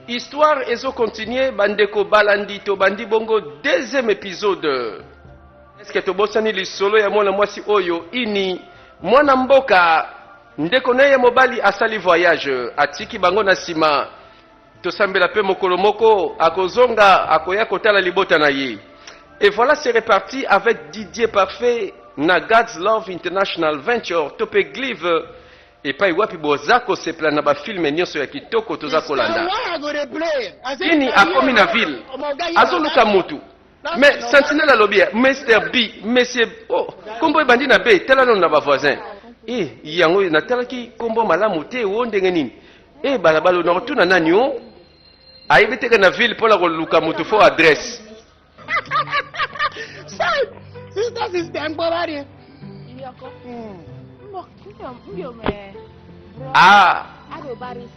histoire ezo continuer bandeko balandi tobandi bongo deuxième épisode eske tobosani lisolo ya mwana mwasi oyo ini mwana mboka ndeko na ye mobali asali voyage atiki bango na nsima Tosambela pe mokolo moko akozonga akoya kotala libota na ye. Et voilà c'est reparti avec Didier Parfait na God's Love International Venture to pe Glive epai wapi boza kosepela na bafilme nyonso ya kitoko toza kolanda. Kini akomi na ville azoluka mutu Mais Sentinelle alobi ya Mr. B, Monsieur oh, kombo ebandi na B, tala nanu na ba voisins. Eh, yango natalaki kombo malamu te, o ndenge nini? Eh, balabala na kotuna nani o? Oh? Ayebi teke na ville pona koluka mutu fo adresse. Sai, sister sister, mbobari. Yoko. Hmm. ah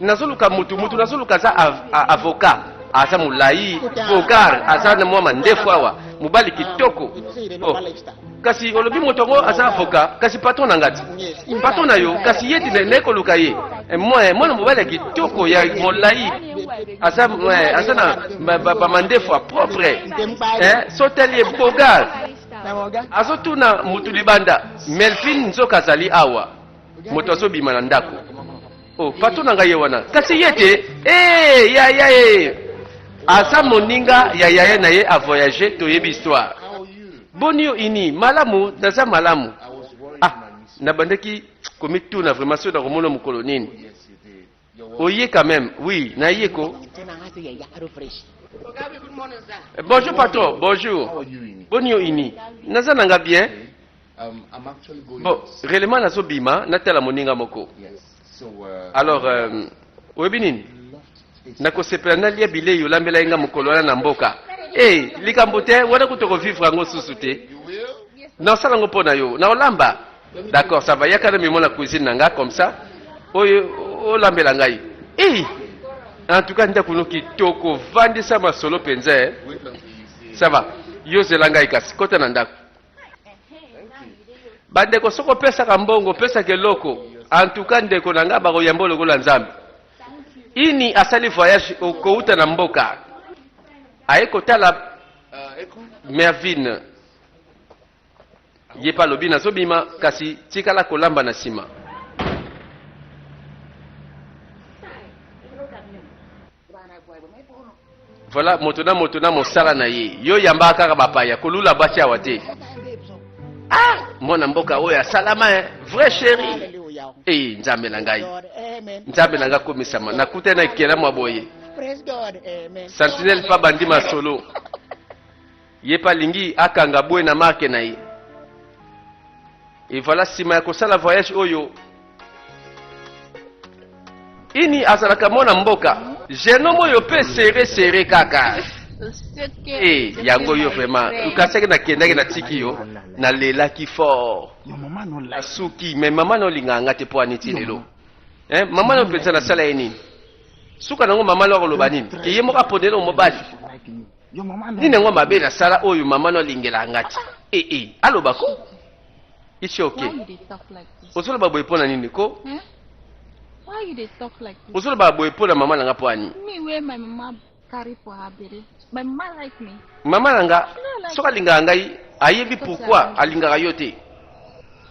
nazoluka mutu mutu nazoluka aza avocat aza molai vogar aza na mwa mandefu awa mobali kitoko oh. kasi olobi moto yango aza avocat kasi patron na ngati patron na yo kasi ye ti naye koluka ye eh, eh, mwana mobali ya kitoko ya molai aza eh, na bamandefu ya propre soteli ye bogar azotuna mutu libanda melvin nzoka azali awa moto azobima na ndako o oh, patro na ngai ye wana kasi ye te ee eh, yaya ye aza moninga ya yaya na ye avoyage toyebi histoire boni yo ini malamu naza malamu ah nabandaki komituna vraimen soki nakomona mokolo nini Oye quand même, oui, na ye ko. Eh, bonjour patron, bonjour. Boni yo ini. Naza nanga bien. Um, bon, réellement nazo bima, natala moninga moko. Uh, Alors, euh, oyebi nini? Nakosepela nalia bilei olambela ye nga mokolo wana na mboka. Eh, likambo te, wana kutu okovivre yango susu te. Nasala yango mpo na yo, na olamba. D'accord, ça va. Yaka na mimo na cuisine nanga comme ça. Oyo olambela oh, ngai. Eh! En tout cas, ndaku no kitoko, vandisa masolo penza. Eh. Ça va. Yo zela ngai kasi kota na ndaku. Bandeko soko opesaka kambongo, pesa keloko. En tout cas, ndeko na ngai bakoyamba lokola Nzambe. Ini asali voyage okouta na mboka. Aye kotala euh, Mervine Ye pe alobi nazobima kasi tikala kolamba na nsima. Voilà moto na moto na mosala na ye. Yo yamba kaka bapaya kolula basi awa te. Ah, mwana mboka oyo asalama eh. Vrai chéri. Eh, nzambe na ngai. Nzambe na ngai komisama. Nakuta na ekela mwa boye. Sentinelle pa bandi masolo. Ye pe alingi akanga boye na marque na ye. Et voilà, sima ya kosala voyage oyo, ini azalaka mwana mboka. Jeune homme oyo pe serre serre kaka. Eh, yango yo vraiment okasaki nakendaki natiki yo nalelaki fort nasuki mais mama na olingaka nga te mpo aniti lelo eh, mama na openza nasala ye nini suka nango mama na akoloba nini ke ye moko aponela omobali nini yango mabe nasala oyo mama no alingelaka nga te ee eh, eh, aloba ko isi oke ozoloba boye mpo na nini ko eh? ozoloba boye mpo na mama na nga mpo ani mama na nga soki alingaka ngai ayebi pourkui alingaka yo te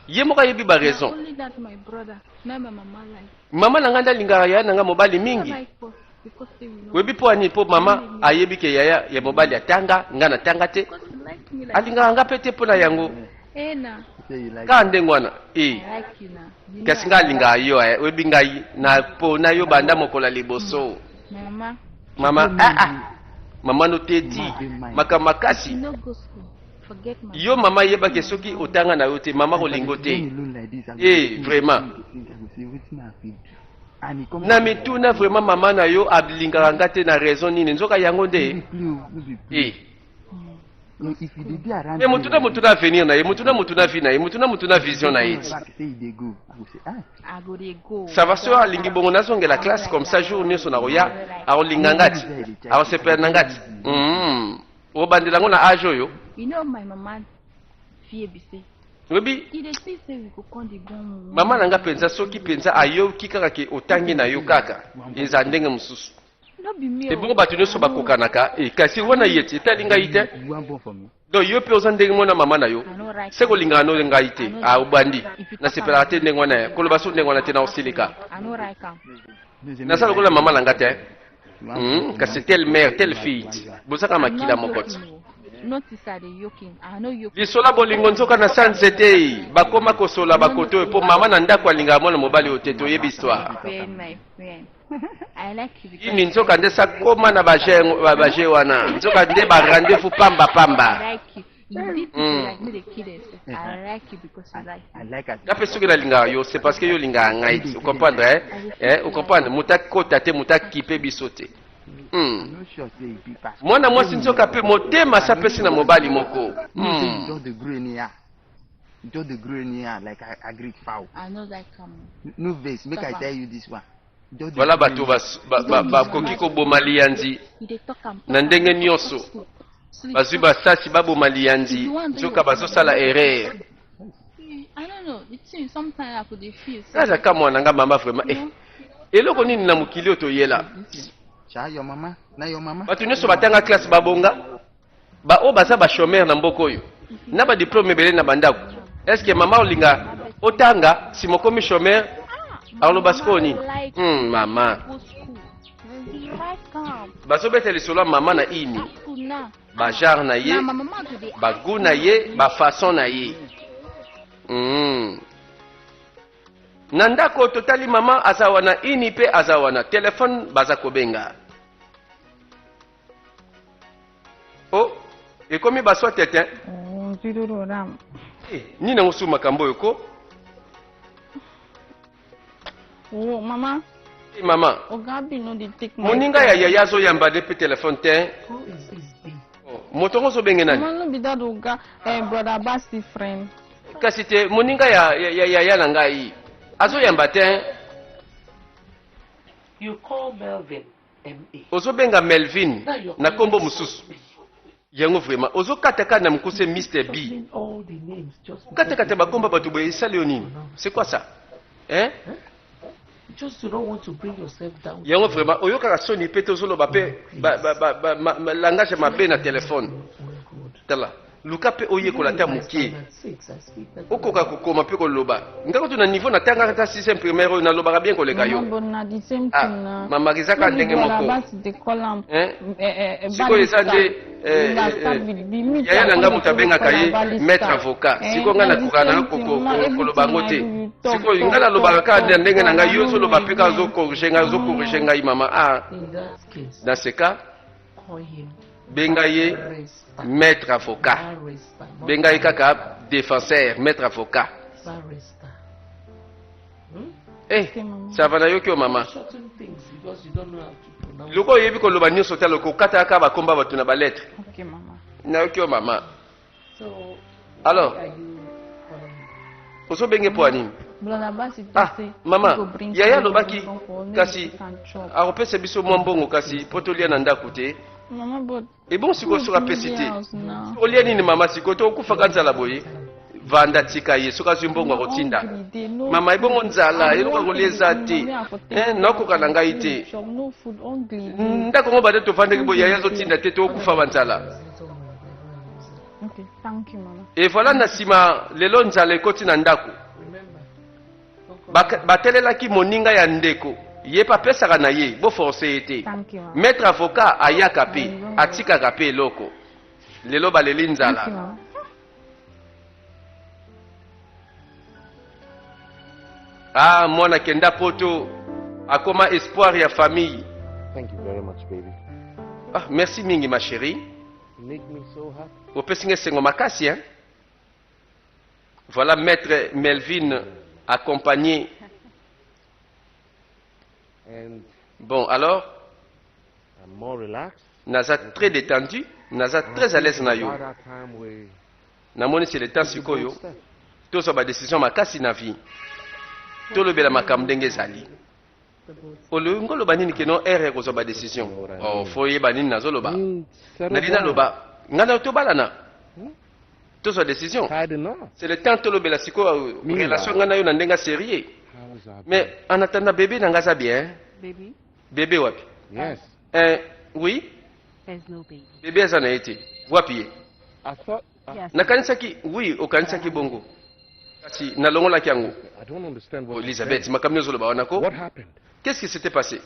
ye moko ayebi baraison Mama na ngai nde alingaka yaya na ngai mobali mingi. Oyebi mpo ani? Mpo mama ayebi ke yaya ya mobali atanga, ngai natanga te. Alingaka ngai mpe te mpo na yango. Kaka ndenge wana. Eh. Kasi ngai alingaka yo, eh. oyebi ngai napona yo banda mokolo ya liboso. Mama, ah ah. Mama no te ti, makambo makasi. Yo mama yeba ke soki otanga na yo te mama kolingo te. Eh vraiment. Na mituna vraiment mama na yo alingaka nga te na raison nini nzoka yango nde. Eh. Mais mutuna mutuna avenir na ye, mutuna mutuna vie na ye, mutuna mutuna vision na ye. Ça va soeur alingi bongo nazongela classe comme ça jour nyonso nakoya akolinga ngati akosepela na ngati. Mm. obandela yango na age oyo you know my mama fie bise oyebi mama na nga mpenza soki mpenza ayoki kaka ke otangi na yo kaka eza ndenge mosusu ebongo bato nyonso bakokanaka eh, kasi wana ye ti etali ngai te donc yo mpe oza ndenge mwana mama na yo se kolingaka no ngai te ah, obandi nasepelaka te ndenge wana koloba so ndenge wana te na osilika naza lokola mama na nga te Hmm, kasi telle mère telle fille bozaka makila moko ti lisola bolingo nzoka na sa nzete bakoma kosola bakoto mpo mama na ndako alingaka mwana mobali oyo te toyebi histoire ini nzoka nde sakoma na baje wana nzoka nde barendez-vous pamba pamba nga mpe soki nalingaka yo c'est parce que yo olingaka ngai te ocomprendre eh? eh, ocomprendre moto akota te moto akipe biso te Hmm. mwana mwasi nzoka mpe motema asi apesi na mobali moko hmm. Don't the green here like I agreed foul. I know that coming. No, no vase. Make Stop I tell you this one. Voilà bato bakoki koboma liyanzi na ndenge nyonso bazwi basasi baboma liyanzi nzoka bazosala erreur naza ka mwana nga mama vraiment eh, eloko nini na mokili oyo toyela bato nyonso batanga classe babonga Ba oyo baza ba chômeurs na mboka oyo na ba diplôme ebele na bandako. Est-ce que mama olinga otanga si mokomi chômeur aloba sikoyo nini? Hmm, mama bazobeta lisolo ya mama na ini bagenre na ye bagout na ye bafaçon na ye mm. na ndako totali mama aza wana ini mpe aza wana telefone baza kobenga Oh, ekomi baswa tete. Oh, zilolo ram. Eh, nini nango su makambo oyo ko? Oh, mama. Eh, mama. Ogabi no di tik. Moninga ya yaya zo yamba de pe telefone te. Oh, is is bi. Oh, moto ngo zo benge nani? Mama no bi dadu ga eh brother Basti friend. Kasi te moninga ya ya ya ya na ngai. Azo yamba te. You call Melvin. ozobenga melvin na kombo mosusu yango vraimen ozokatakata na mokuse mr b katakata bakomba bato boye esali yo nini c'est quoi ça eh? yango vraimen oyokaka soni mpe te ozoloba mpe langage ya mabe na telefone tala luka mpe oyekola ata moke okoka kokoma mpe koloba nga kutu na niveau natangaka ata sixième primaire oyo nalobaka bien koleka yo ah, mamaka eza kaka ndenge moko eh, eh, eh, sikoyo eza nde yaya na nga moto abengaka ye maître avocat sikoyo nga nakoka na koloba yango te sikoyo nga nalobaka kaka na ndenge na ngai yo ozoloba mpe kaka ozokorige ngai ozokorige ngai mama a ah. dans ce cas benga ye maître avocat benga ye kaka défenseur maître avocat hmm? eh, sava nayoki yo mama loko oyebi koloba nyonso te aloko okataka bakomba bato na baletre nayoki yo mama Alors, ozobenge mpo ya nini ah, mama yaya alobaki kasi akopesa biso mwa mbongo kasi mpo tolia na ndako te ebongo sikoyo soki apesi te olia nini mama sikoyo to okufaka nzala boye vanda tika ye soki azwi mbongo akotinda mama ebongo nzala eloko akolia eza te eh, nakoka na ngai te ndako yango bade tovandaki boye yaya azotinda te tokokufa banzala Okay, thank you mama. Evala na sima lelo nzala ekoti na ndako. Batelelaki moninga ya ndeko ye mpe apesaka na ye boforce ye te maître avocat ayaka mpe atikaka mpe eloko lelo baleli nzala ah mwana kenda poto akoma espoir ya famille Thank you very much, baby. Ah, merci mingi ma chérie opesi nga esengo makasi hein? voilà maître melvin accompagné bon alors naza très détendu naza très à l'aise na yo namonisi le temps sikoyo tozwa badécision makasi na vie tolobela makambo ndenge ezali olingi oloba nini keno ere ekozwa badecision oh, fo oyeba nini nazoloba hmm, nalingi naloba ngai nayo tobalana hmm? tozwa decision c'est le temps tolobela sikoyo relation ngai nayo na ndenge ya sérieux ah, mais en attendant bebe na ngai aza bien bebe wapi yes. eh, oui bebe aza na ye te wapi ye Nakanisaki, oui, okanisaki bongo. Kasi nalongolaki yango. Oh, Elizabeth, makambo nini ozoloba wana ko? Qu'est-ce qui s'était passé?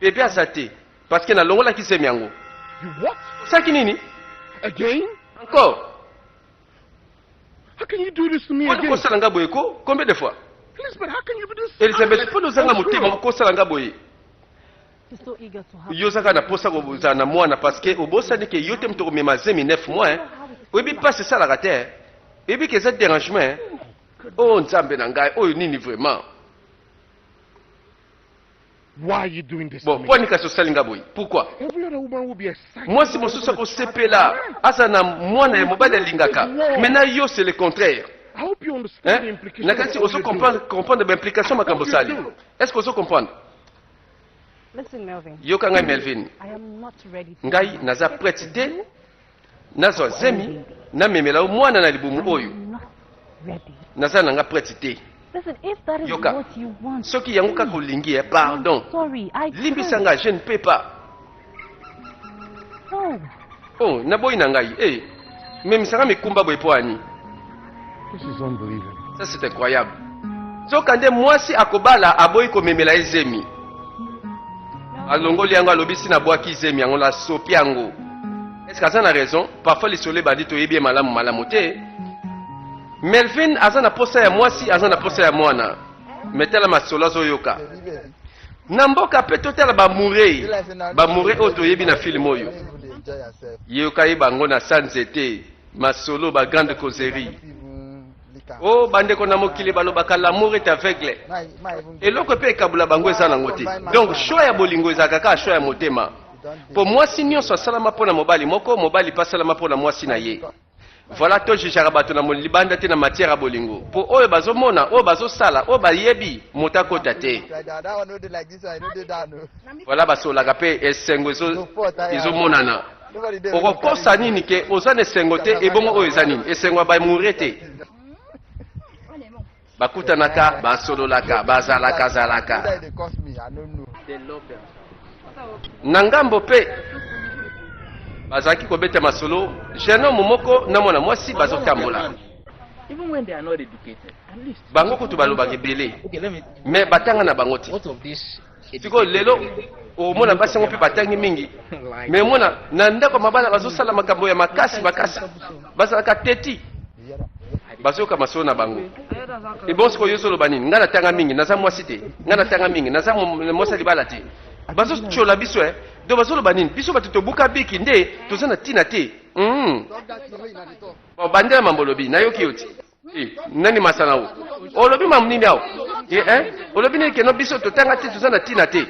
Bebe aza te, parce que nalongolaki zemi yango. Osaki nini? Encore? Mpona kosala nga boye ko? Combien de fois? Elizabeth, mpona ozanga motema okosala nga boye? yo ozaka na posa kozala na mwana parce que obosani ke yo te moto okomema zemi 9 mois hein? oyebi mpasi esalaka te hein? oyebi ke eza derangement hein? o oh, nzambe na ngai oyo nini vraiment bon mpo anika sosali nga boye pourkui mwasi mosusu akosepela aza na mwana ya mobali alingaka mai na yo c'est le contraire nakati ozo comprendre baimplication makambo osali est ce que ozo comprendre yoka ngai melvin ngai naza prete te nazwa zemi namemela yo mwana na libumu oyo naza na nga prete te yoka soki yango kaka olingi eh, pardon limbisa nga je ne peux pas Oh, na boyi na ngai. Eh, mais misanga mikumba boye po ani. This is unbelievable. Ça c'est incroyable. Soka nde mwasi akobala aboyi komemela ye zemi. Alongoli yango alobisi na bwaki zemi yango la sopi yango. Est-ce que aza na raison? Parfois lisolo ebandi toyebi ye malamu malamu te. Melvin aza na posa ya mwasi, aza na posa ya mwana. me tala masolo azoyoka na mboka mpe totala bamurei bamure oyo toyebi na filme oyo yeyoka ye bango na sa nzete masolo ba grande causerie o oh, bandeko na mokili balobaka lamour est aveugle eloko mpe ekabula bango eza nango te donc shoi ya bolingo ezalaka kaka shoi ya motema mpo mwasi nyonso asalama mpo na mobali moko mobali mpe asalama mpo na mwasi na ye Voilà to jugeaka bato na libanda te na matière ya bolingo mpo oyo bazomona oyo bazosala oyo bayebi moto akota te voilà basolaka mpe esengo ezomonana okokosa nini ke oza na esengo te ebongo oyo eza nini esengo ya bamoure te Bakutanaka, basololaka, bazalaka zalaka. Na ngambo pe bazalaki kobeta masolo jeune homme moko na mwana mwasi bazotambola bango kutu balobaka ebele me batanga na bango te sikoyo lelo omona basi yango mpe batangi mingi me omona na ndako ya mabala bazosala makambo ya makasi makasi bazalaka teti bazoyoka masolo na bango ebon sikoyo yo ozoloba nini ngai natanga mingi naza mwasi te ngai natanga mingi naza mwasi ya libala te bazotyola biso e eh. do bazoloba nini biso bato tobuka biki nde toza na ntina te hmm. bandela mambo olobi nayoki yo ti Eh, nani masana o olobi mamu nini awa eh, eh, olobi nini keno biso totanga te toza na ntina te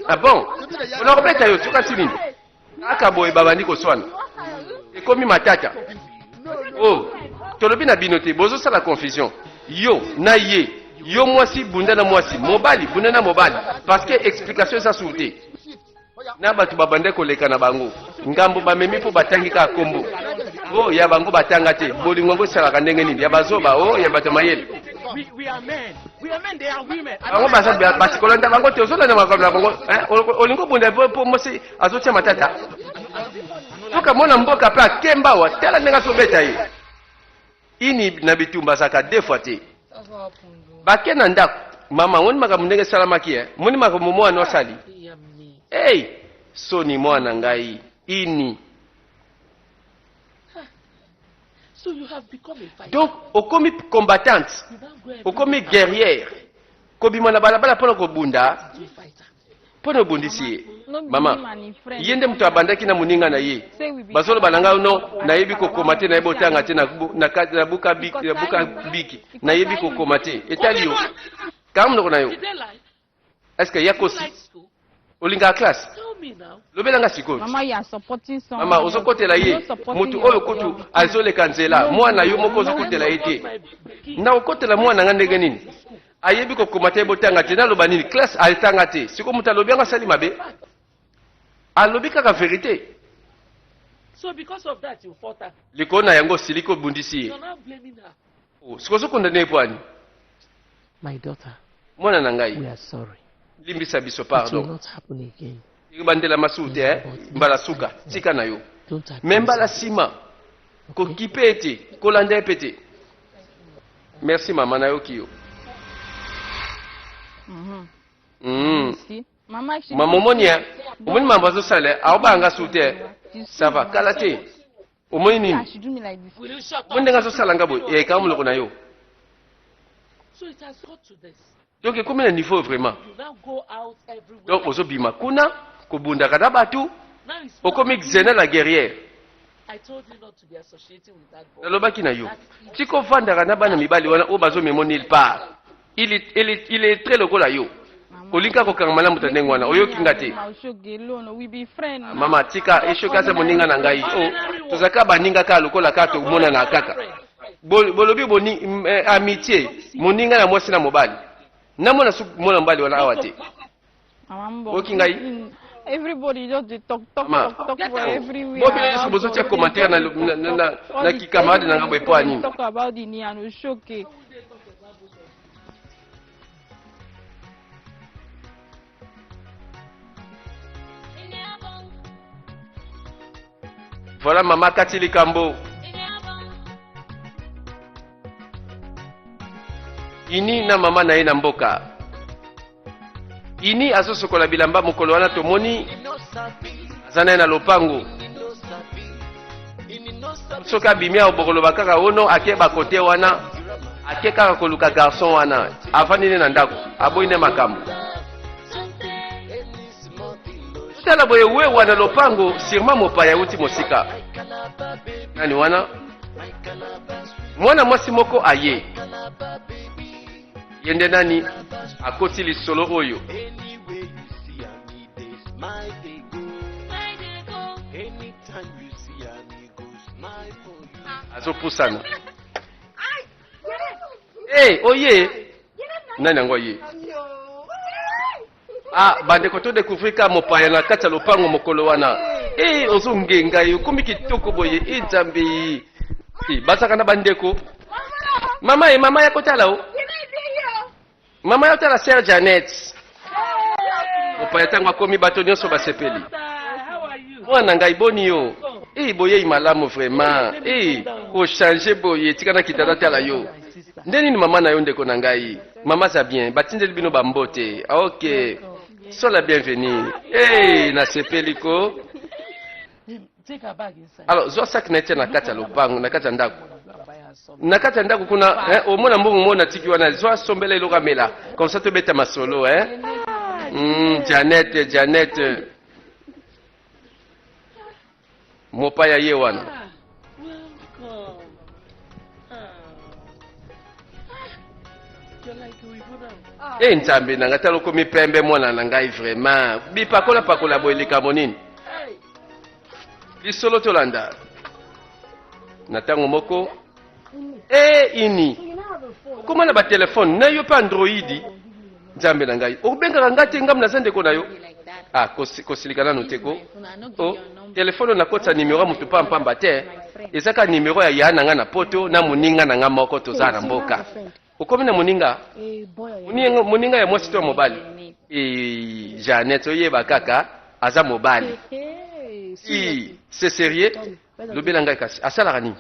ah bon ona kobeta yo sokasi nini aka boye babandi koswana ekomi matata o oh, tolobi na bino te bozosala confusion yo na ye yo mwasi bunda na mwasi mobali bunda na mobali parce que explication eza sur te na bato babandaki koleka na bango ngambo bamemi mpo batangi kaka nkombo o oh, ya bango batanga te bolingo yango esalaka ndenge nini ya bazoba o oh, ya bato ya mayele bango baza basi kolanda bango te ozolanda makambo na bango olingi obunda mpo mosi azotia matata tokamona mboka mpe akembawa tala ndenge azobeta ye Ini na bitumba azalaka deux fois te. Bake na ndako. Mama, moni makambo ndenge esalamaki eh? Moni makambo mwana asali. Hey, soni mwana ngai. Ini. So you have become a fighter. Donc okomi combattante, okomi guerrière, kobima na balabala mpona kobunda. mpo na obundisi ye mama ye nde moto abandaki na moninga na ye bazoloba na ngai no nayebi kokoma te nayebi otanga te na buka biki nayebi kokoma te etali yo kanga monoko na yo eske ya kosi olingaka classe lobela nga sikoyo mama ozokotela ye motu oyo kutu azoleka nzela mwana yo moko ozokotela ye te na okotela mwana nga ndenge nini ayebi kokoma te botanga te naloba nini classe atanga te siko moto alobi yango asali mabe alobi kaka verite so because of that you fought her likolo na yango osiliki obundisi ye you're not blaming her Oh, siko ozokondana ye pwani my daughter mwana na we ngai are sorry limbisa biso it will pardon not happen again ekobandela masumu te eh? mbala suka tika na yo me mbala nsima kokipe ye te kolanda ye mpe te merci mama nayoki yo mm. mm. mama omoni eh? omoni mambo azosala eh? aobanga su te sava kala te omoni nini omoni ndenge azosala nga boye ekaa eh, moloko na yo donc ekomi na niveau oyo vraiment donc ozobima kuna kobundaka na bato okomi xena la guerrière nalobaki na yo tika ofandaka na bana mibali wana oyo bazomemo nil part iletre lokola yo olinga kokanga malamu ta ndenge wana oyoki nga te mama tika eshoki aza moninga na ngai o oh, tozalaka baninga kaka lokola kaka tomonana kaka bolobi boni eh, amitié moninga na mwasi na mobali namona su mwana mobali wana awa te oki ngai everybody just dey talk talk talk talk for everywhere. bobi yesu bozotia commentaire na na na na kikamarade na ngambo epo anini. talk about the niano shoke. Voilà mama kati likambo. Ini na mama na ye na mboka. Ini azosokola bilamba mokolo wana tomoni aza na ye na lopango. soki abimi awa bokoloba kaka ono oh ake bakote wana ake kaka koluka garçon wana avandi nde na ndako aboyi nde makambo tala boye we wana lopango sirma mopaya euti mosika nani wana mwana mwasi moko aye ye nde nani akoti lisolo oyo azopusana hey, eh, oye oh nani yango ye ah bandeko to découvrir ka mopaya na kati ya lopango mokolo wana hey, eh, ozongenga ye okomi kitoko boye e nzambe hey, bazaka na bandeko mama ye mama ya kotala o oh. Mama yo tala sœur Janet. Mopaya tango akomi bato nyonso basepeli. Mwana ngai boni yo? Eh boyei malamu vraiment. Eh ko changer boye tika na kitanda tala yo. Nde nini mama na yo ndeko na ngai? Mama za bien batindeli bino ba mbote. Ah, okay. Sois la bienvenue. Eh hey, nasepeli ko. alors zwa saki na etia na kati ya lopango na kati ya ndako na kati ya ndako kuna eh, omona mbongo mona tiki wana zwa sombela eloko amela comme ça tobeta masolo eh? mm, janete janete mopaya ye wana e eh, nzambe na ngai tala okomi pembe mwana na ngai vraiment bipakola pakola boye likambo nini Lisolo tolanda na ntango moko e ini okoma na batelefone na yo mpe androidi nzambe na ngai obengaka ngai te ngambo naza ndeko na yo ah, kosilika nano te ko o oh, telefone nakotisa nimero ya moto mpampamba te eza kaka nimero ya yaa na ngai na poto na moninga na ngai moko tozala na mboka okomi na moninga eh, moninga ya mwasi to ya mobali eh, janete oyeba kaka aza mobali se serieux lobela ngai kasi asalaka nini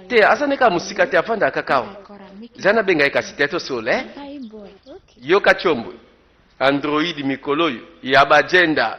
te aza nde kaka mosika te afandaka kaka awa eza nabenga ye kasi te tosole eh? yoka combo android mikolo oyo ya bagenda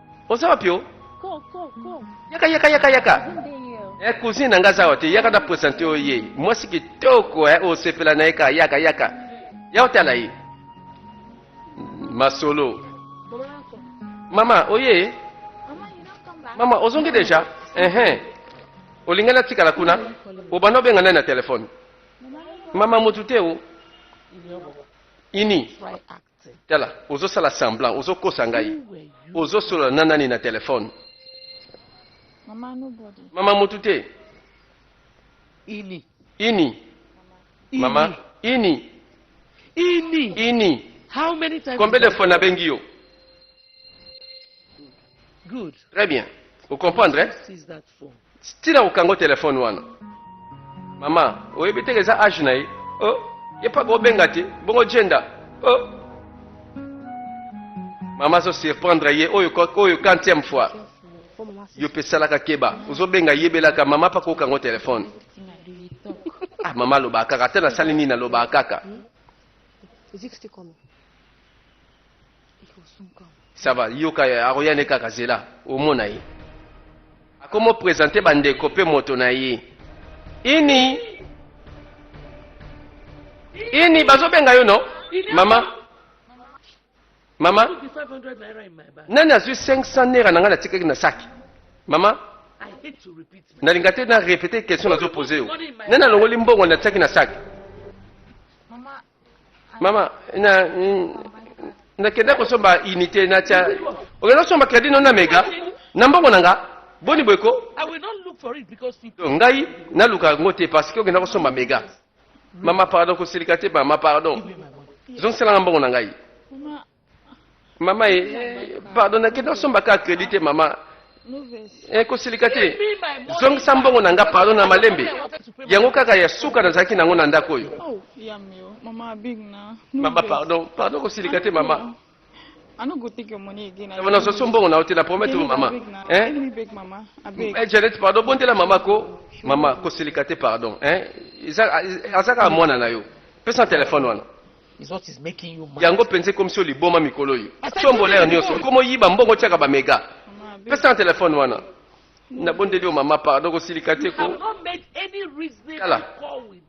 oza wapi o yaka yaka yaka yaka eh, cousine na nga aza wa te yaka na presente oyo ye mwasi kitoko eh, osepela na ye ka yaka yaka ya otala ye masolo mama oye mama ozongi deja ehe olingi natikala kuna obanda obenga nani na telefone mama motu te o ini right Tala, ozo sala semblant, ozo kosa ngai. Ozo solola na nani na telephone? Mama nobody. Mama mutu te. Ini. Ini. Mama ini. Ini. Ini. How many times? Combien de fois nabengi yo? Très bien. Vous comprenez Stila okango téléphone wana. Maman, oyebi te eza âge na ye. Oh, ye pa ko benga te. Bongo gender. Oh. Maman zo surprendre ye oyo oyo 40e fois. Yo pe salaka keba. Ozo benga yebelaka maman pa ko kango téléphone. Ah maman loba kaka te na sali nini na loba kaka. Is it still coming? ça va yoka akoya nde kaka zela omona ye akomo présente bandeko mpe moto na ye ini ini bazobenga yo no mama mama nani azwi 500 naira na ngai natikaki na saki mama nalinga te na répéte question nazopose yo nani alongoli mbongo natiaki na saki mama na nakenda kosomba unité natya okenda kosomba crédit no na mega na mbongo na nga boni boye ko ngai naluka yango te parce que okenda kosomba mega mama pardon kosilika te mama pardon zongiselanga mbongo na ngai mama ye eh, pardon nakenda osomba kaka credit te mama eh, kosilika te zongisa mbongo na nga pardon na malembe yango kaka ya suka nazalaki nango na ndako oyo oh, mama pardon pardon kosilika te mama nazoso mbongo na yo te na promete yo mama eh? eh, janete pardon bondela mama ko mama kosilika te pardon aza kaka mwana na yo pesa telefone wana Yango penza ekomisi yo liboma mikolo oyo. Tombolere nioso, okomo yiba mbongo tiaka ba mega. Pesa na telefone wana. Nabondeli yo mama, pardon kosilika te ko. Tala.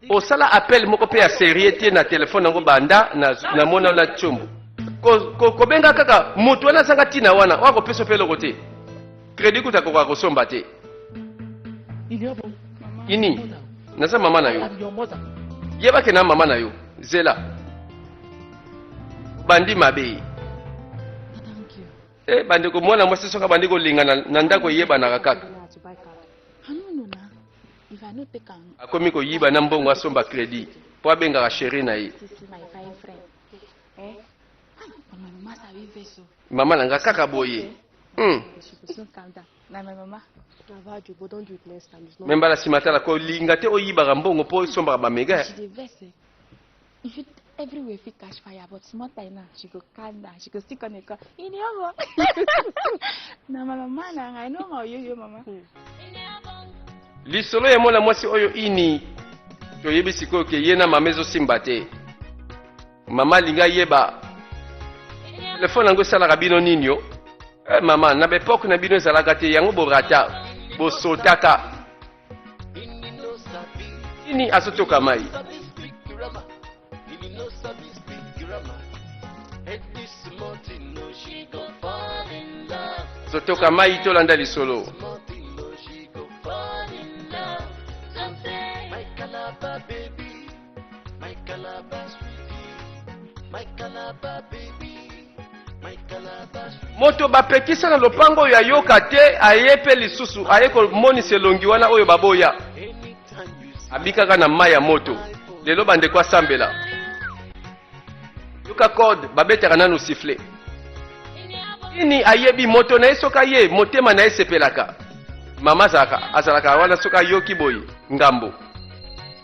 Osala appel moko pe ya serieux te na telefone yango banda na na mona na chombo. Ko, ko, kobenga kaka mutu wana azanga tina wana, wana kopesa pe eloko te. Credit kuta koka kosomba te. Ini, naza mama na yo. Yeba ke na mama na yo. Zela. Bandi mabe. Eh, bandi ko mwana mwasi soka bandi ko linga na ndako yeba na kaka. Akomi ko yiba na mbongo asomba credit. Po abengaka chérie na ye. Mama na nga kaka boye. Hmm. me mbala nsima tala kolinga te oyibaka mbongo mpo osombaka bamega everywhere fit catch fire but small time now she go calm down she go still come dey call iniomo na my mama na ngai no ma oyoyo mama. Hmm. lisolo ya mwana mwasi oyo ini toyebi sikoyo ke ye na mama ezosimba te Mama linga yeba telefone yango esalaka bino nini yo eh, mama na baepoke na bino ezalaka te yango borata bosotaka nini azotoka mai zotoka mai tolanda lisolo My Calabar sweetie, my Calabar baby, my Calabar sweetie. moto bapekisa na lopango oyo ayoka te aye mpe lisusu aye komonisa elongi wana oyo baboya Anytime you see abikaka na mai ya moto lelo bandeko asambela yoka code babetaka nanu sifle nini ayebi moto na ye soki aye motema na ye esepelaka mama azalaka azalaka wana soki ayoki boye ngambo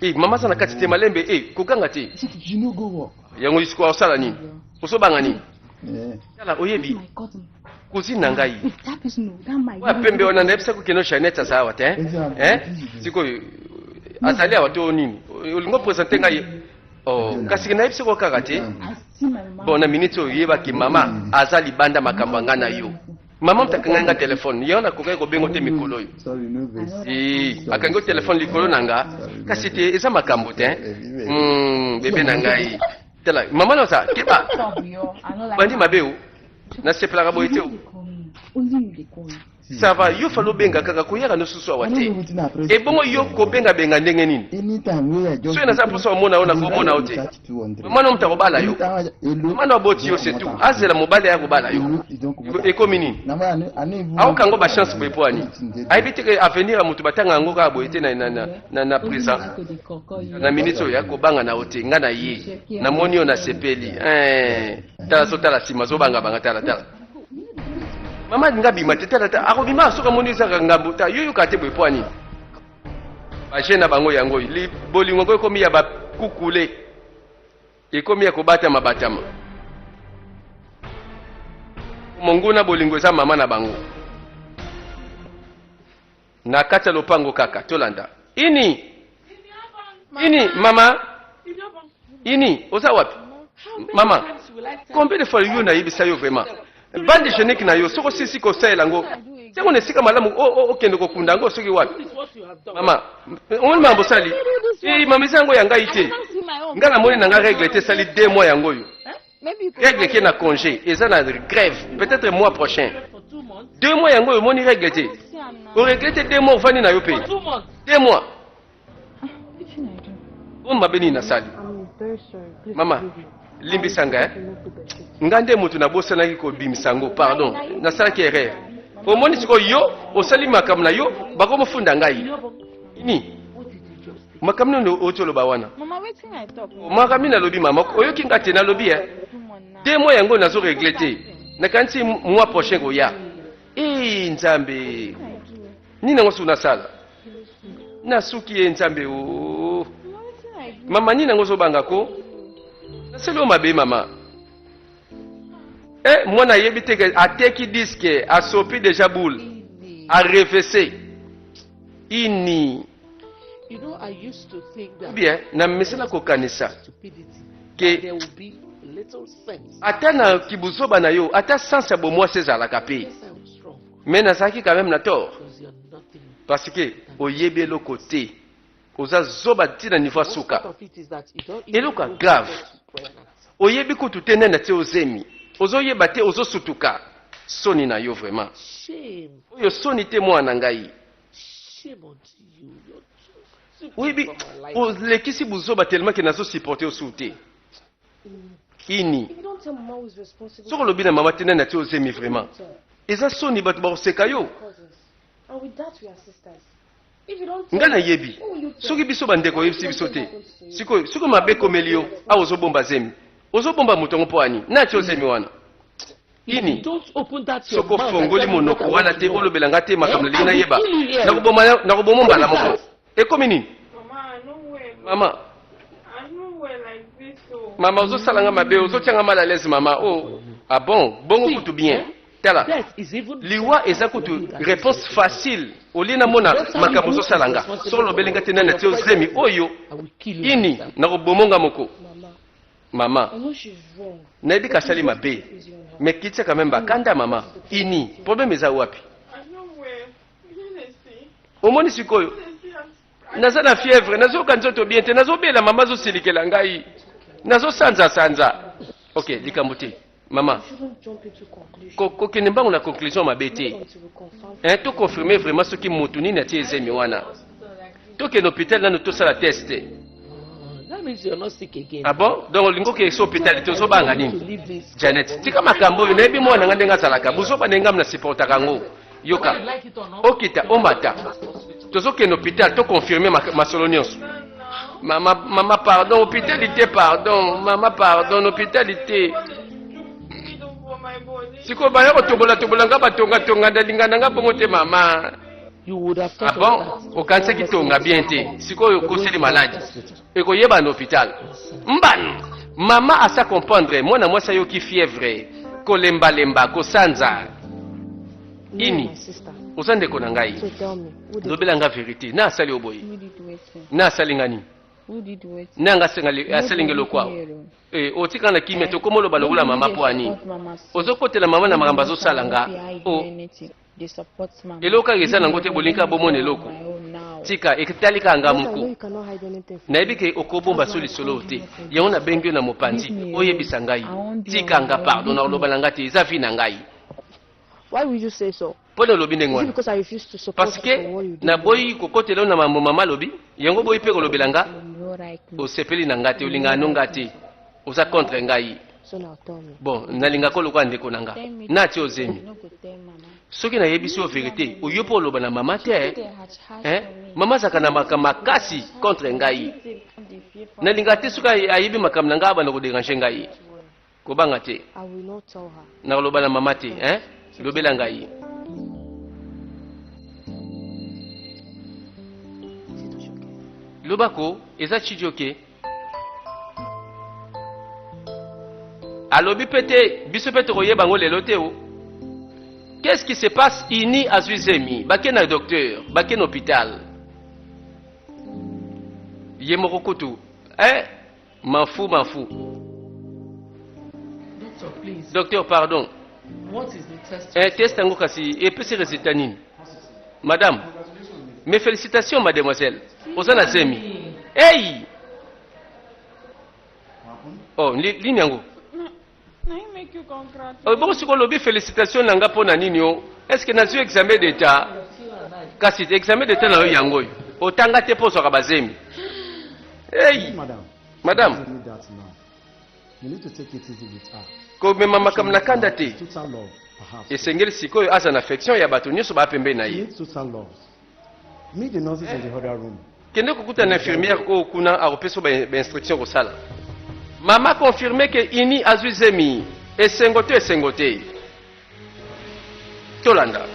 Eh, mama aza na kati te malembe eh, koganga te yango lisiko osala nini osobanga nini eh. tala oyebi kozini na ngai oya pembe wana nayebisa kokende janete aza awa te eh? sikoyo azali awa to nini olingi opresente ngai oh, kasi nayebisi ko kaka te bon na miniti oyo yebaki mama aza libanda makambo ya ngai na yo Maman mpe akangaki nga telefone yango nakokaki kobenga te mikolo oyo akangi yo telefone likolo na nga kasi te eza makambo te hmm, bebe na ngai tala mama naosa keba bandi mabe o nasepelaka boye te sava yo fali obenga kaka koyaka nosusu awa te ebongo yo kobengabenga ndenge nini soki naza mposa omona yo nakomona yo te mama no moto akobala yo mama no aboti yo se tout azela mobali aya kobala yo ekomi nini aoka yango bachance boye mpo ani ayebi te ke avenir ya moto batanga yango kaka boye te na présent na minute oyo akobanga na yo te ngai na ye namoni yo nasepeli tala zotala nsima zobangabanga talatala mama alinga bima te talatala akobima soki amoni ezaka ngambo ta yo yoka te boye mpo ani baje na bango yango bolingo yango ekomi ya bakukule ekomi ya kobatama batama monguna bolingo eza mama na bango na kati ya lopango kaka tolanda ini ini mama Ini, oza wapi? Mama, combien de fois yo nayebisa yo vraiment? Bande genique na yo soki osilisi kosalela yango yango na esika malamu okende kokunda yango soki wapi mama omoni mambo osali eh, mama eza yango ya ngai te ngai namoni na ngai regle te esali de mois yango oyo regle ke na congé eza na grève peut-être mois prochain deux mois yango oyo omoni regle te oregle te deux mois ovandi na yo mpe deux mois Bon mabe nini nasali? Mama, limbisa nga eh? Nga nde moto nabosanaki kobimisa yango, pardon. Nasalaki erreur. Omoni sikoyo yo osali makambo na yo bakomofunda ngai. Nini? makambo nini oti oloba wana makambo nini alobi mama oyoki nga te nalobi e de moi yango nazo regle te nakanisi mwa prochain koya e nzambe nini yango soki nasala nasuki ye nzambe o oh. mama nini yango ozobanga ko naseli oyo mabe mama e mwana ayebi te ateki diske asopi deja boule arevese ini bien namesana kokanisa ke ata na kibuzoba na yo ata sanse ya bomwasi ezalaka mpe Mais nazalaki quand même na tort. Parce que oyebi eloko te. Oza zoba ti na niveau suka. Eloko ya grave. Oyebi kutu te nani atie ozemi. Ozoyeba te ozosutuka. Soni na yo vraiment. Oyo soni te mwana ngai. Oui, olekisi buzoba tellement que nazo supporter osu te. ini soki olobi na mama te nani atie ozemi vraiment eza soni bato bakoseka yo ngai nayebi soki biso bandeko oyebisi biso te sikoyo soki mabe ekomeli yo awa ozobomba zemi ozobomba moto yango mpo ani nati ozemi wana ini soki ofongoli monoko wana te olobela ngai te makambo nalingi nayeba nakoboma mbala moko ekomi nini mama mama ozosala nga mabe ozotya nga mal à l'aise mama o oh. ah bon bongo kutu bien tala liwa eza kutu réponse facile olie namona makambo ozosala nga soko olobeli nga te nani atie ozemi oyo ini nakoboma nga moko mama nayebi kasali mabe mais kitisa quand même bakanda mama ini problème eza wapi omoni sikoyo naza na fièvre nazoyoka nzoto bien te nazobela mama azosilikela ngai nazosanza sanza ok likambo te mama kokende mbango na conclusion mabe te to confirme vraiment soki motu nini atie ezemi wana tokende hopital nanu tosala test te ah bon donc olingi okende so hopital te ozobanga nini janet tika makambo oyo nayebi mwana nga ndenge azalaka buzoba na engamu na supportaka yango yoka okita omata tozokende hopital toconfirme masolo nyonso mama mama pardon hopitalite pardon mama pardon hopitalite sikoyo baya kotobola tobola nga batongatonga ndalinga na nga bongo te mama abon ah okanisaki tonga bien te sikoyo okoseli maladi ekoyeba na hopital mbano mama asa comprendre mwana mwasi ayoki fievre kolembalemba kosanza ini oza ndeko na ngai lobela nga verité na asali yo boye na asali nga nini na yanga asali nge lokwa eh, otika na kimia tokoma oloba lokola mama mpo ya nini ozokotela mama na makambo azosala nga eloko kaka eza nango te bolingi kaka bomona eloko tika etali kaka nga moko nayebi ke okobomba so lisolo oyo te yango nabengi yo na mopanzi oyebisa ngai tika nga pardon na koloba na nga te eza vi na ngai Why would you say so? mpo na olobi ndenge wana parceke naboyi kokotela yo na mambo mama alobi yango boyi mpe kolobela nga osepeli na nga te olingaka no nga te oza contre ngai bon nalinga ko lokola ndeko na nga nati ozemi soki nayebisi yo verite oyo mpo oloba na mama te eh? mama azalaka na makambo makasi contre ngai nalinga te soki ayebi makambo na ngai abanda koderange ngai kobanga te nakoloba na mama te eh? lobela ngai loba ko eza chidioke alobi mpe te biso mpe tokoyeba yango lelo te o qu'est-ce qui se passe ini azwi zemi bake na docteur bake na hôpital ye moko kutu eh, mafu mafu docteur, please. docteur pardon Eh, test yango kasi epesi resultat nini? Madame, mes felicitations mademoiselle. Oza na zemi. Hey! Oh, lini yango? Oh, bongo sikoyo olobi félicitation na nga mpo na nini o oh? est ce que nazwi examen d'état kasi examen d'état na yo yango oyo otanga te mpo ozwaka bazemi hey madame komema makambo na kanda te esengeli sikoyo aza na affection ya bato nyonso baa pembeni na ye kende kokutana na infirmière oyo kuna akopesa bainstruction kosala mama confirme ke ini azwi zemi esengo to esengo te tolanda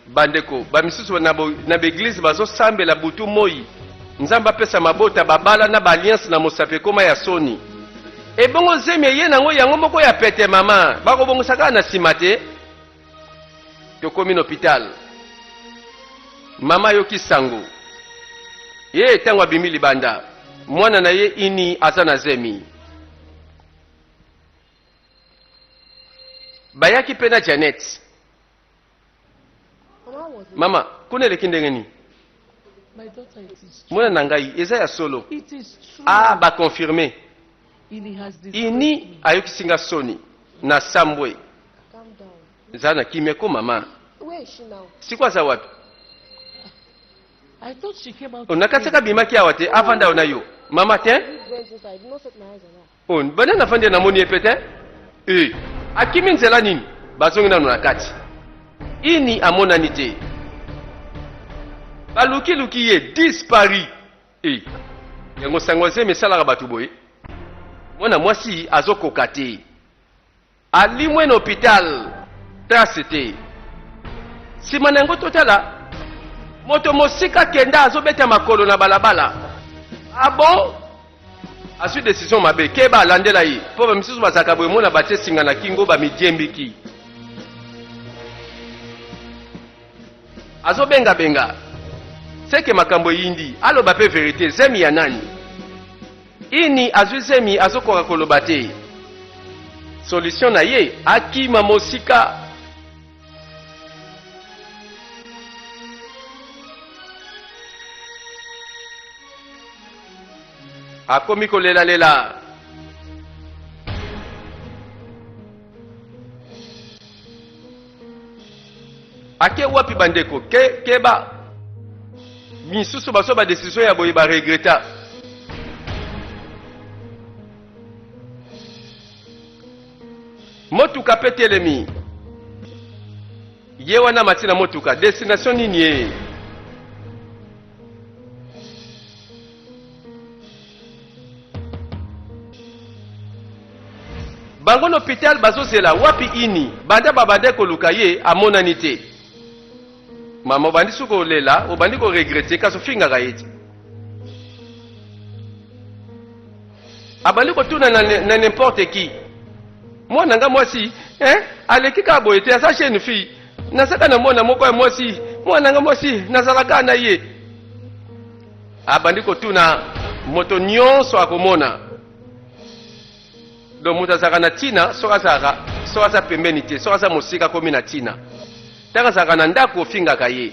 Bandeko bamisusu na baeglize bazosambela butu moi, Nzambe apesa mabota babala na baalliance na mosapi ekoma ya soni. Ebongo zemi eye nango yango moko ya pete mama, bakobongisa kaka na sima te. Tokomi na hopital, mama ayoki sango ye ntango abimi libanda, mwana na ye ini aza na zemi. Bayaki mpe na Janet. mama kuna eleki ndenge nini mwana na ngai eza ya solo ah baconfirme ini ayokisi nga soni na sambwe za na kimia ko mama siko aza wapi onakatisaka bimaki awa te avanda ona yo mama te Oh, banda na fandi na moni epete. Eh, akimi nzela nini? Bazongi nanu na kati. Ini amonani te. Baluki luki ye dispari. Eh, yango sango zemi salaka batu boye. Mwana mwasi azokoka te. Alimwe na hopital, trace te. Sima na yango totala moto mosika kenda azobeta makolo na balabala. Ah bon? Azwi decision mabe, keba alandela ye mpo bamisusu bazalaka boye mona batie singa na kingo bamidiembiki. Azobengabenga seke makambo eyindi, aloba mpe verite, zemi ya nani? Ini azwi zemi azokoka koloba te solution na ye akima mosika. Akomi kolela lela. ake wapi bandeko ke, keba misusu bazwa badesizio ya boye baregreta motuka mpe telemi ye wana mati na motuka destination nini ye bango na hopital bazozela wapi ini banda babanda koluka ye amonani te mama obandi su kolela obandi koregrete kasi ofingaka ye te abandi kotuna na, na n'importe qui mwana nga mwasi eh? aleki kaka boye te aza jeune fille nazalaka na mwana moko ya mwasi mwana nga mwasi nazalaka na ye abandi kotuna moto nyonso akomona donc moto azalaka na ntina soki azalaka soki aza pembeni te soki aza mosika akomi na ntina ntango azalaka na ndako ofingaka ye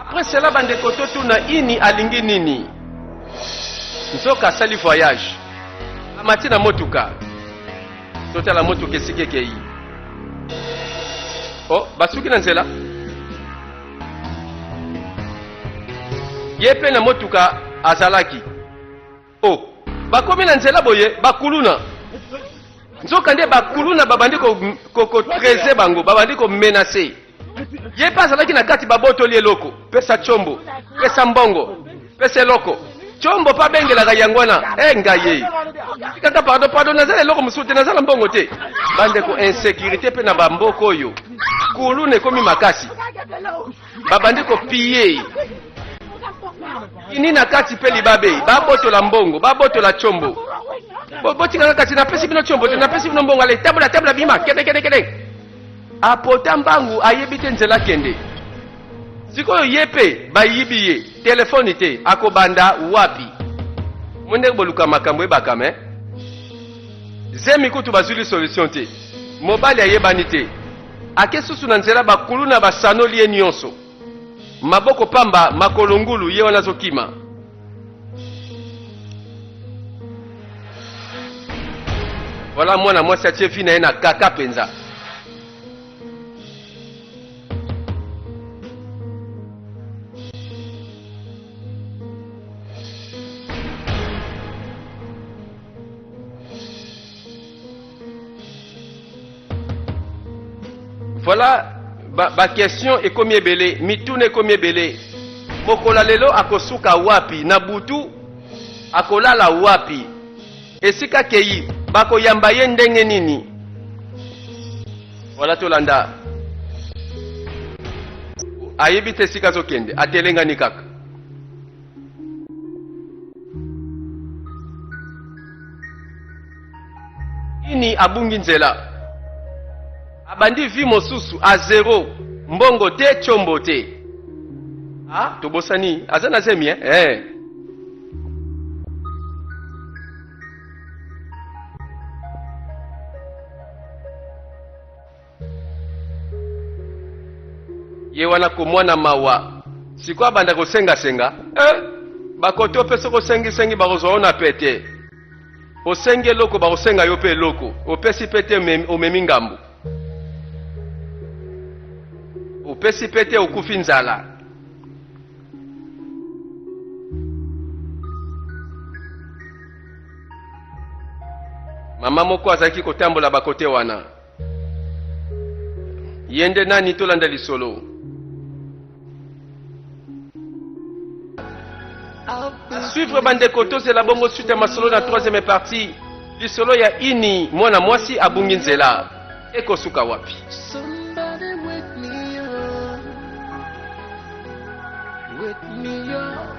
Après cela bandeko totuna ini alingi nini? Nzoka asali voyage, amati na motuka, totala motuka esika ekei. Oh, basuki na nzela. Ye mpe na motuka azalaki Oh, bakomi na nzela boye bakuluna. Nzoka nde bakuluna babandi ko, ko, ko treze bango, babandi ko menacer. Ye pe azalaki na kati babotoli eloko, pesa chombo, pesa mbongo, pesa eloko. Chombo pa bengelaka yango wana, eh ngaye. Kaka pardon, pardon, nazala eloko mosusu te, nazala mbongo te. Bande ko insécurité pe na bamboko oyo. Kuluna ekomi makasi. babandi kopiye ini na kati mpe libabe babotola mbongo babotola combo botika kaka ti napesi bino combo te napesi bino mbongo ale tambola tambola bima kende kende kende apota mbangu ayebi te nzela kende sikoyo ye mpe bayibi ye telefoni te akobanda wapi mo ndenge boluka makambo ebaka me zemi kutu bazwili solution te mobali ayebani te Ake susu na nzela ba kuluna ba sanoli ye nionso maboko pamba makolo ngulu ye wana azokima. Voilà mwana mwasi atie vie na ye na kaka penza. Voilà ba, ba question ekomi ebele, mituna ekomi ebele. Mokola lelo akosuka wapi? Na butu akolala wapi? Esika keyi bakoyamba ye ndenge nini? Voilà tolanda. Ayebi te esika azokende, atelengani kaka. nini abungi nzela abandi vi mosusu a zero mbongo te chombo te ah, tobosani aza na zemi eh? eh. ye wana komwana mawa sikoyo abanda kosengasenga eh, bakoti yo mpe soki osengisengi bakozwa yo na pete osengi eloko bakosenga yo mpe eloko opesi mpe te omemi ngambo opesi mpe te okufi nzala mama moko azalaki kotambola bakote wana ye nde nani tolanda lisolo suivre bandeko tozela bongo suite ya masolo na 3e partie lisolo ya ini mwana mwasi abungi nzela ekosuka wapi With me, yo.